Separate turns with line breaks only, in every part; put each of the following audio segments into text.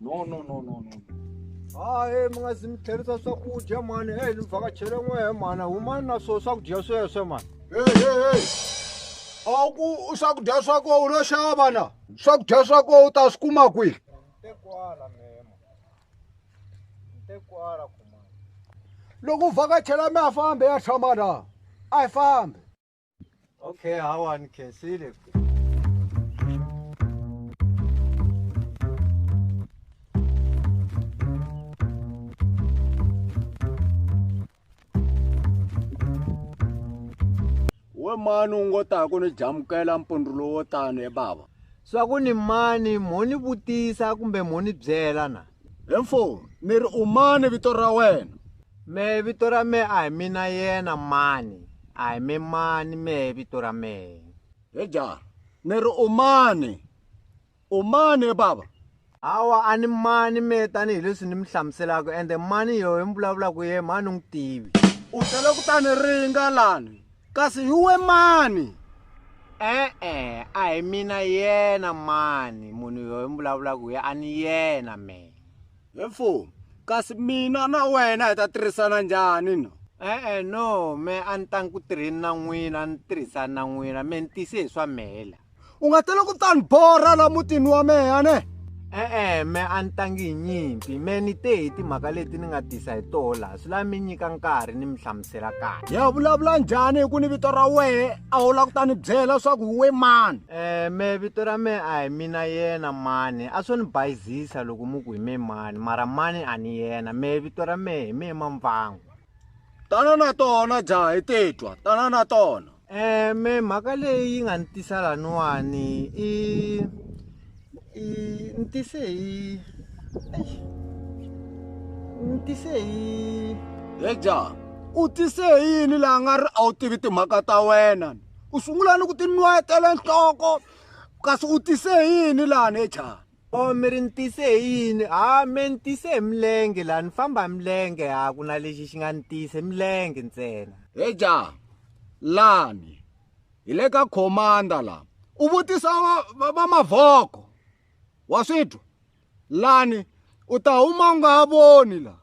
no no no no no hayi mi nga zi mi tlherisa swakudya mhani heyi ni vhakachele n'wehe mhani humani na swo swakudya sweswe mhani hehehe a ku swakudya swa koho u lo xava na swakudya swa koho u ta swi kuma kwihi loko u vhakachela mi ya fambe ya tshama na a yi fambi Okay, I want to see it. we mani u ngo ta ku ni jamukela mpundzu lowo tani e bava swa ku ni mani mo ni vutisa kumbe mo ni byela na He mfowni, ni ri u mani vito ra wena? Mehe vito ra mehe a hi mina yena mani, a hi mi mani mehe vito ra mehe. He jara, ni ri u mani? U mani he baba? Hawa a ni mani mehe tanihi leswi ni mi hlamuselaka ende mani yohe mi vulavulaka yehe mhani ni n'wi tivi. U tele ku ta ni ringa lani. Kasi hi we mani? E-e, a hi mina yena mani, munhu yoye mi vulavulaka hi ye a ni yena me. He mfumo, kasi mina na wena hi ta tirhisana njhani no? E-e no, me a ni tangi ku tirheni na n'wina a ni tirhisani na n'wina me ni tise hi swa mehe la. u nga tele ku ta ni borha la mutini wa mehe ne e-e me a ni tangi hi nyimpi me ni te hi timhaka leti ni nga tisa hi toho laha swi lavi mi nyika nkarhi ni mi hlamusela kahle ya vulavula njhani hi ku ni vito ra wehe a wu la ku ta ni byela leswaku hi we mani um me vito ra me a hi mina yena mani a swo ni bayizisa loko mu ku hi me mani mara mani a ni yena me vito ra me hi me mamvango tana na tona jaha hi titwa tana na tona me mhaka leyi nga ni tisa laniwani i i ni tise hi eish ni tise hi heja u tise hi yini laha nga ri a wu tivi timhaka ta wena u sungula ni ku tinwetela nhloko kasi u tise hi yini lani heja. Oh mi ri ni tise hi yini ha me ni tise hi milenge laha ni famba hi milenge ha ku na lexi xi nga ni tise milenge ntsena he ja lani hi le ka commander la u vutisa va mavhoko wa swi twa lani u ta huma u nga ha voni la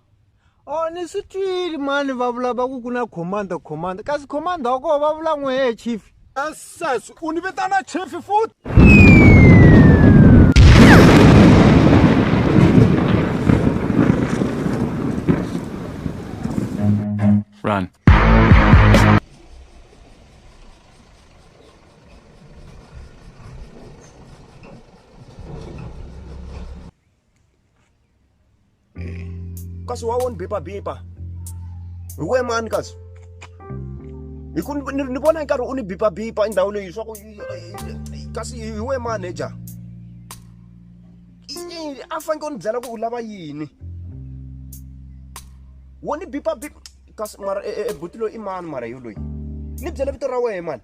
Oh, ni swi twile mani va vula va ku ku na commander commander kasi commander wa koho va vula n'we he chief sesi u ni vitana chief futhi Run. kasi wawoni bipa bipa hi we mani kasi hi ku ni vona nkarhi u ni bipa bipa i ndhawu leyi swa ku kasi hi we manager a faneke u ni byela ku u lava yini wo ni bipa bipa kasi mara ebuti loyi i mani mara yo loyi ni byela vito ra wehe mani